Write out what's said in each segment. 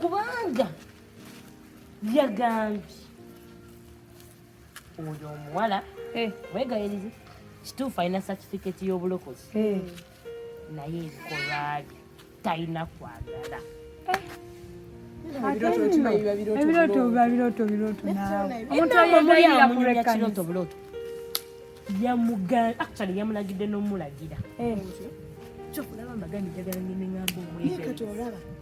kubanga yagambye oyo omuwala eh. wegayirize kituufu alina satifiketi y'obulokozi eh. naye ebikolwa bye talina kwagala eh. ebirooto biba birooto birooto naawe omuntu ayagayira kurekanisa yamugan actually yamulagidde n'omulagira kyokulaba mbagambye njagala ngende ngamba omwegayiriza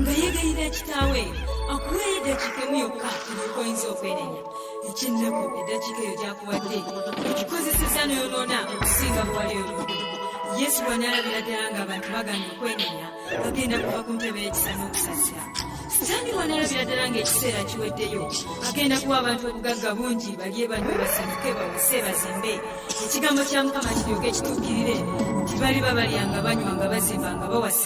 nga yeegayirira kitaawe akuweeyo eddakiika emu yokka eryoka oyinza okwenenya eky'ennaku eddakiika eyo gyakuwadde okikozesezza n'oyonoona okusinga bwewali oludde yesu bw'anaalabira ddala ng'abantu bagana okwenenya bagenda kuva ku ntebe y'ekisa n'okusasira sitaani bw'anaalabira ddala ng'ekiseera kiweddeyo agenda kuwa abantu obugagga bungi balye banywe basanyuke bawase bazimbe ekigambo kya mukama kiryoke kituukirire nti baliba balyanga banywa nga bazimba nga bawasa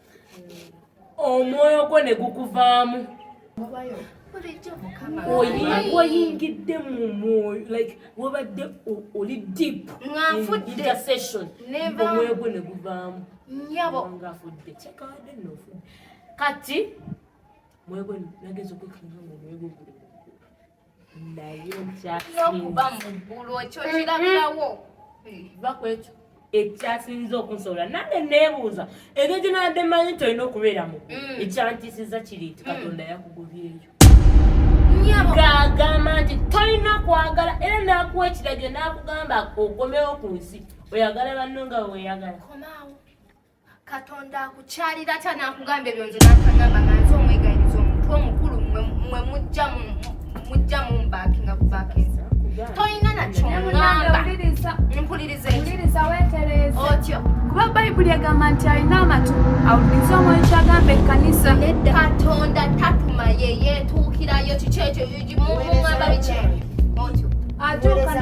omwoyo gwo ne gukuvaamu oyingidde mu mwoyo like wabadde oli deep intercession omwoyo gwo ne guvaamu nyabo ngafudde kyekabadde nofudde kati mwoyo gwo nageza okwekanga mu mwoyo gwo guli nokuba muggulu ekyo kirabirawo bakwekyo ekyasinza okunsobola nange nebuuza ebyo ginabadde manyi nti olina okubeera mu mm. ekyantisiza kiri nti mm. katonda yakugobyeyo ng'agamba nti tolina kwagala era nakuwa ekiragiro nakugamba okomewo ku nsi oyagala banno nga weyagala katonda akukyalira atya nakugamba ebyo nze nakagamba nga nze omwegayiriza omuntu omukulu mwe mujja mujja mumbaaki nga kubakinza tolina nakyongambampulirizaotyo kuba bayibuli egamba nti alina amatu awuliriza omwoyo kyagamba ekkanisa katonda tatuma ye yetuukirayo kiki ekyo mugamba biki otyo atuuka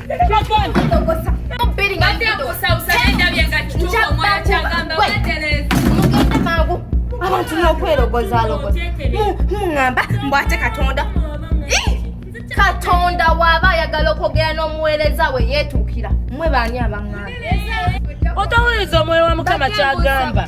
abantu nokwerogozaalogomuŋamba mbwate katonda katonda waaba ayagala okwogera n'omuweereza we yeetuukira mwe baani abaŋŋamba otawuliriza omwoyo wa mukama kyagamba